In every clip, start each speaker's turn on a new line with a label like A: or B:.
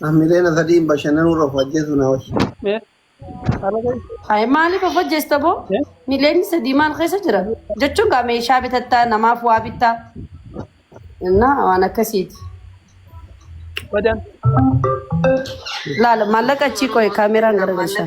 A: Hamilee na sadiin bashannanuu irra of ajjeesuu naa wayya. Mee ala ga'i.
B: Ay maaliif of ajjeesta boo? Mee Miliyoonni sadii maal keessa jira? Jechuun gaa meeshaa bitattaa namaaf waa bittaa. Innaa waan akkasiiti. badaan. Laala maallaqa achii qo'e kaameraan garagalchaa.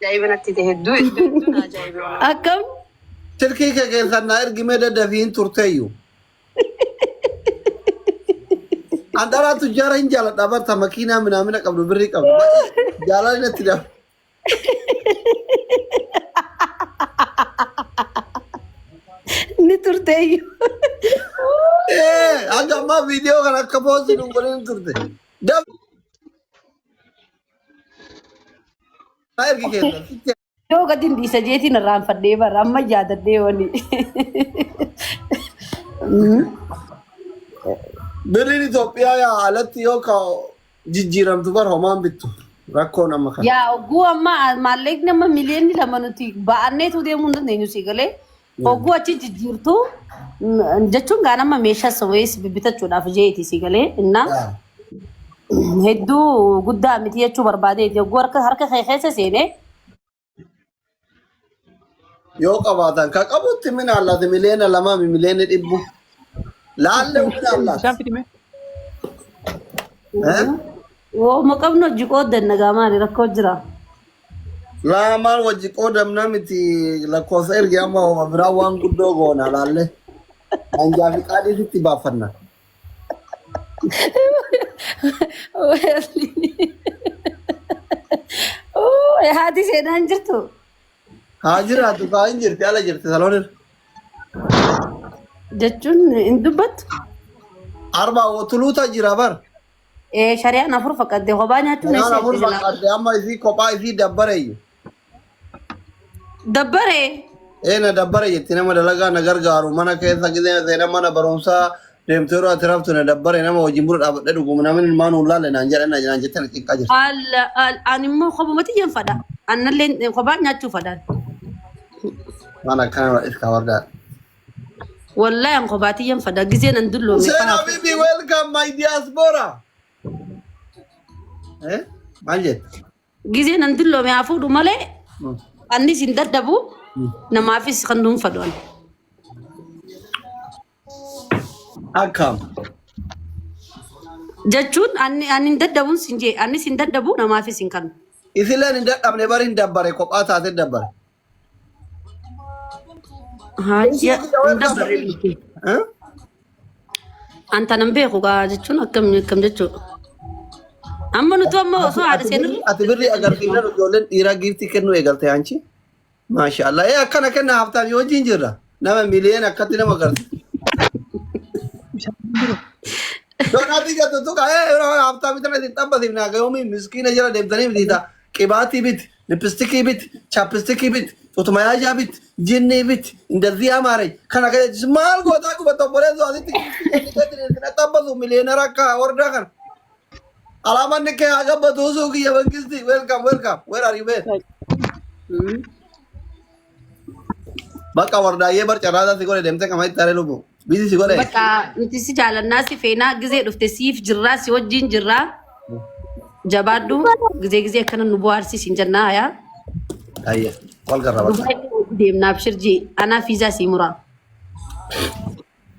A: Ajaa'iba natti
C: ta'e hedduu hedduu na ajaa'ibe walahi. Akkam?
B: Silkii
A: kee keessan naa ergi mee daddafii hin turteeyyu. An dhalaa tujjaara hin jaaladha barta makiinaa minaamina qabdu birrii qabdu. Baay'ee Jaalalli natti dha.
B: Ni turteeyyu. Ee
A: hanga ammaa viidiyoo kana akka poostii hin godhin turte. Daf Haa ergi keessa. Sitti Yoo gadi hin
B: dhiisa jeetiin irraanfadhee bara amma yaadadhee wani.
A: birriin Itoophiyaa yaa alatti yoo ka jijjiiramtu bar homaan bittu. Rakkoon amma kana. Yaa oguu amma
B: maallaqni amma miliyoonni lama nuti ba'anneetu deemuu hin dandeenyu si galee Hogguu achi jijjiirtu mm, jechuun gaa nama meeshaa sawees bibbitachuudhaaf jeeti si galee innaa hedduu guddaa miti jechuu barbaadeeti hogguu harka harka kee keessa seenee
A: Yoo qabaatan ka qabutti min allaati miliyoona lamaa fi miliyoona dhibbu. Laallee min Bishaan allaati. fidime. Eh?
B: woo maqabnu hojii qooddan nagaa maali rakkoo jira.
A: Laa maal wajji qoodamna miti lakkoofsa ergi amma homa biraa waan guddoo goona laalle. Anjaa fi qaadii sitti baaffanna.
B: Oo, haati seenaan jirtu. Haa
A: jiraatu kaa hin jirti ala jirti saloon irra.
B: Jechuun hin dubbattu.
A: Arbaa wotuluuta jira bar. Ee shari'aan
B: afur fakkadde kophaa nyaachuun Kanaan eessa afur itti silaa? fakkaatte
A: amma isii kophaa isii dabbareyyu.
B: Dabbaree. Ee na dabbare
A: jetti nama dalagaa na gargaaru mana keessa gizee seenaa mana barumsaa deemtee yeroo ati raftu na dabbare nama wajjin buna dhaabadhee dhugumu namni ilmaa nuun laalle naan jedhan na naan jettee na cinqaa jirti. Alla al ani immoo
B: kophumatti hin fadha. Annallee kophaa nyaachuu fadhaan.
A: Waan akkana irraa dhirkaa wardaa.
B: Wallahi an kophaa tiyyan fada gizee nan dulloome Hussein fahaa Habibi,
A: welcome my diaspora. Eh? Maal jette? gizee nan dulloome
B: haa fuudhu malee Mm. annis hin dadhabu namaafis kan dhuunfadhu ani.
A: Akkam.
B: jechuun ani ani hin dadhabun sin jee annis hin dadhabu namaafis hin kanu. Isileen hin dadhabne
A: bari hin dabbare kophaa taate dabbare.
B: Haajja hunda bareedu kee. Huh? An tanan beeku gaa jechuun akkam akkam jechuudha. Amma nuti amma osoo haadha seenirra Ati birri agarsiifnaan
A: ijoolleen dhiiraa giiftii kennuu eegalte anchi. Maasha Allah. Ee akkana kenna haftaan yoo wajjin jirra. Nama miliyoona akkatti nama agarsiisa. Doonaatii jettu tuqa ee yeroo haftaa bitana isin xabbasiif naa gayoomii miskiina jala deemtanii bitiita. Qibaatii biti. Lippistikii bit, chappistikii bit, xutumayaashaa bit, jinnii bit, indalzii amaaree kan akka jettis maal gootaa qubata obboleessu asitti na xabbasu miliyeenara akka hordaa kana. Alaamaan nikkee haa gabbatu usuu kiyya mangisti welcome welcome where are you been? Hmm. Bakka wardaayyee bar carraasaa si godhe deemtee qama itti haree lubbuu. Biisi si godhe. Bakka nuti si
B: jaalannaa si feenaa gizee dhufte siif jirraa si wajjin jirraa jabaadhu gizee gizee akkana nu bohaarsi siin jennaa hayaa. Ayya
A: wal garra bakka. Dubaay deemnaa
B: abshirjii anaa fiizaa sii muraa.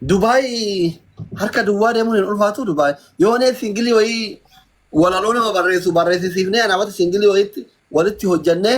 A: Dubaay harka duwwaa deemuun hin ulfaatu Dubaay. Yoo nee singilii wayii walaloo nama barreessu barreessisiifnee anaamatti singilii wayiitti walitti hojjannee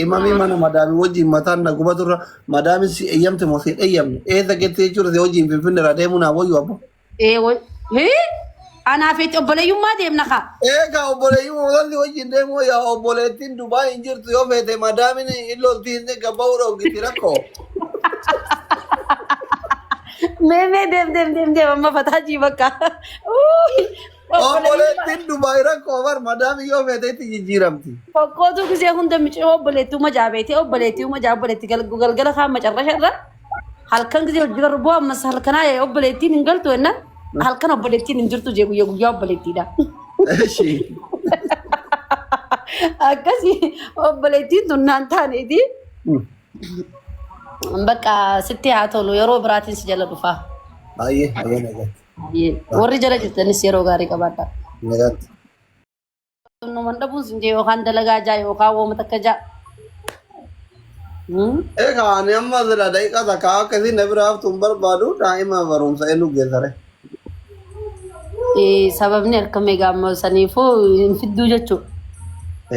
B: Imamii mana
A: madaami wajjin mataan na gubatu irra madaamin si eeyyamte moo si hin eeyyamne eessa gettee jechuudha si wajjin finfinne irraa deemuu naa wayyu abbo. Ee wal. Hii?
B: Anaa fi obboleeyyummaa deemna kaa. Eegaa obboleeyyuu
A: walli wajjin deemuu yaa obboleettiin Dubaa hin jirtu yoo feete madaamin illooltii hin eegga ba'uu dhoggiti rakkoo.
B: Mee mee deem deem deem deem amma fataa jii bakka. Uuy.
A: Obboleettiin Dubaay rakkoo bar madaamii yoo feete itti jijjiiramti. Qoqqootuu gisee
B: hunda micii obboleettii uma jaabeetee obboleettii uma jaa obboleettii gal- galgala kaan macarrasha irra halkan gisee hojii garuu bu'aa ammas halkanaa ee obboleettiin hin galtu enna halkan obboleettiin hin jirtu jee guyyaa guyyaa obboleettiidha. Eshi. Akkasii obboleettiin tun naan taaneeti bakka sitti haa tolu yeroo biraatiin si jala dhufaa. Baay'ee baay'ee
A: nagatti. Hayyee. Warri jala
B: jirtanis yeroo gaarii qabaadhaa. Nagaatti. Numan dhabuun sin jee yookaan dalagaa jaa yookaan wooma takka jaa. Hmm?
A: Egaa ani amma sila daqiiqa takka akka isin na bira haftu hin barbaadu daa'ima barumsa elu geessare. Eh,
B: Sababni akka meegaa amma saniifuu hin fidduu jechuudha.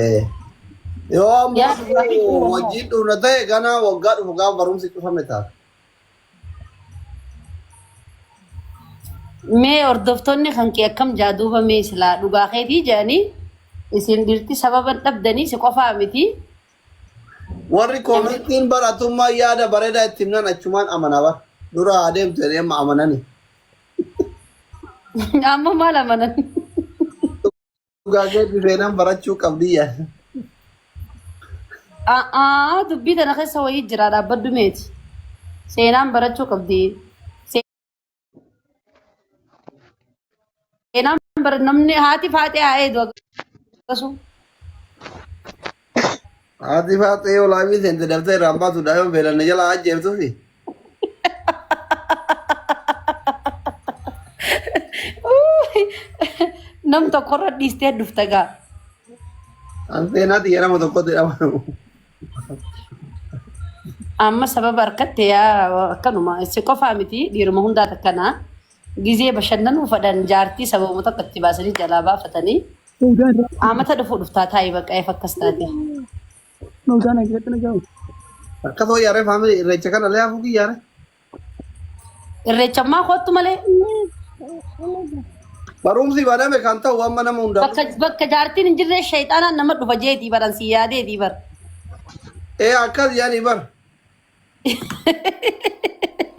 B: Eh.
A: Yoo amma Yaa- wajjin dhufna ta'e ganaa waggaa dhufu gaafa barumsi cufame ta'a.
B: Mee hordoftoonni kan kee akkam jaa duuba mee silaa dhugaa keetii jedhanii isin dhirti sababan dhabdanii si qofaa miti.
A: Warri koomentiin bar atummaan yaada bareedaa itti himnan achumaan amana bar. Dura haa deemtu jedhanii amma amanani.
B: Amma maal amanan?
A: Dhugaa keetti seenaan barachuu qabdi yaa.
B: A'aa dubbii tana keessa wayii jira dhaabbaddu meeti. Seenaan barachuu qabdi. Seenaan bara namni haati faatee haa eedu akkasuma.
A: Haati faaxee yoo laamii seente daftee irraan baatu daa'ima beelanne jalaa ajjeeftuufi.
B: Uuuy, Nam tokkorra dhiistee dhufta gaa.
A: An seenaatti yerama tokkotti dhabanu.
B: Amma sababa harkatte yaa akkanuma si qofaa miti dhiiruma hundaa takkanaa gizee bashannanuu fadhan jaartii sababuma tokko itti baasanii jalaa baafatanii Fawzaan irraa Qaamata dhufuu dhuftaa taa'ii bakka eef akkas taate. Fawzaan ajjeetti na gahu.
A: Akka ta'u yaaree faamilii irreecha kana illee hafuu kiyyaare. Irreechammaa
B: koottu malee
A: Barumsi baname kan ta'u amma nama hundaa bakka dhufu. bakka jaartiin hin
B: jirre sheexaanaan nama dhufa jeetii baran si yaadeetii bar. Ee
A: akkas yaanii bar.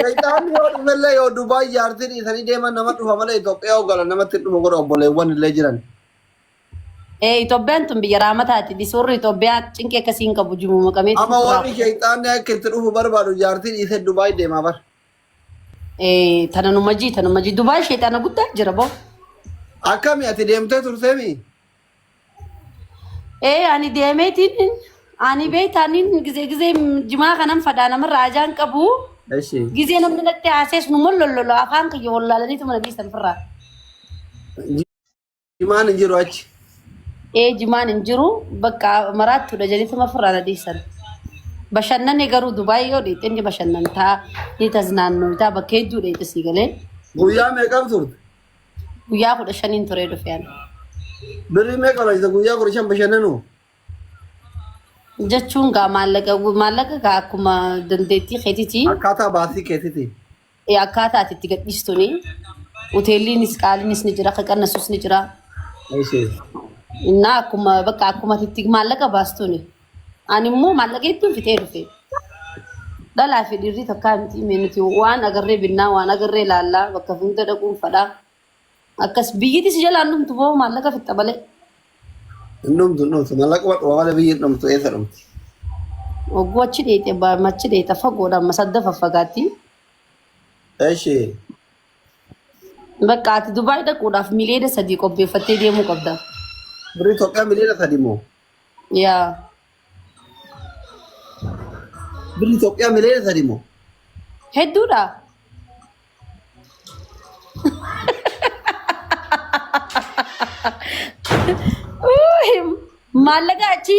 A: Shayxaanni yoo dhufellee yoo Dubaay jaartii dhiisanii deeman nama dhufa malee Itoophiyaa yoo galan namatti hin dhufu godha obboleewwan illee jiran. Ee Itoophiyaan
B: tun biyya raamataati. Dhisoorri Itoophiyaa cinqii akkasii hin qabu jimu maqamee Amma turaa. warri shayxaanni
A: akka itti dhufu barbaadu jaartii dhiisee Dubaay deemaa bara. Ee tana nu
B: majii tana majii Dubaay sheexaana guddaa jira boo. Akkami
A: ati deemtee turteemi?
B: Ee ani deemeetiin ani beektaa inni gizee gizee jimaa kanan fadhaa namarraa ajaan qabu Eshi. gizee namni natti haasees nu mollololo afaan kiyya wallaalaniitu mana dhiisan firraa.
A: Jimaan hin jiru achi. Ee jimaan
B: hin jiru bakka maraattudha jedhituma firraa na dhiisan. Bashannane garuu Dubaay yoo dhiite inni bashannantaa ni tasnaannootaa bakka hedduu dheete sii galee. Guyyaa meeqan
A: turte? Guyyaa kudha
B: shaniin turee dhufe ani. Birrii
A: meeqa barbaachisa guyyaa kudha shan bashannanu?
B: Jechuun gaa maallaqa maallaqa gaa akkuma dandeettii keetiiti. Akkaataa baasii keetiiti.
A: Eh, Akkaataa ati
B: itti gadhiistuni. Hoteelliinis qaaliinis ni jira, kan qannasus ni jira. Ishee. Innaa akkuma bakka akkuma ati itti maallaqa baastuni. Ani immoo maallaqa hedduun fitee dhufe. Dhalaa fi dhiirri takkaa miti mee nuti waan agarree binnaa waan agarree laallaa bakka hunda dhaquun fadhaa. Akkas biyyiti si jalaan dhumtu boo maallaqa fixxa malee. Hin
A: dhumtu hin dhumtu mallaquma dhuma malee biyyi hin dhumtu eessa dhumti. Ogguu
B: achi dheeyxe abbaa machi dheeyxa fagoodha amma sadda faffagaatti. Eshi Bakka ati Dubaay dhaquudhaaf miliyoona sadii qopheeffattee deemuu qabda. birri Itoophiyaa
A: miliyoona sadi moo Yaa. Birri Itoophiyaa miliyoona sadi moo? Hedduudha.
B: Uuhi, Maallaqa achi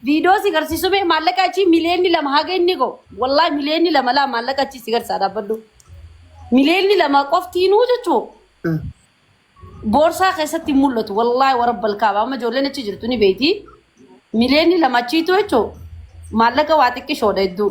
B: viidiyoo si garsiisu mee maallaqa achi miliyoonni lama haga inni ga'u. Wallaahi miliyoonni lama laa maallaqa achi si garsaa dhaabbadhu. Miliyoonni lama qoftiinuu jechuu. Boorsaa keessatti hin mul'atu. Wallaahi warabba alkaaba. Amma ijoolleen achi jirtu ni beekti. Miliyoonni lama achiitu jechuun maallaqa waa xiqqishoodha hedduu.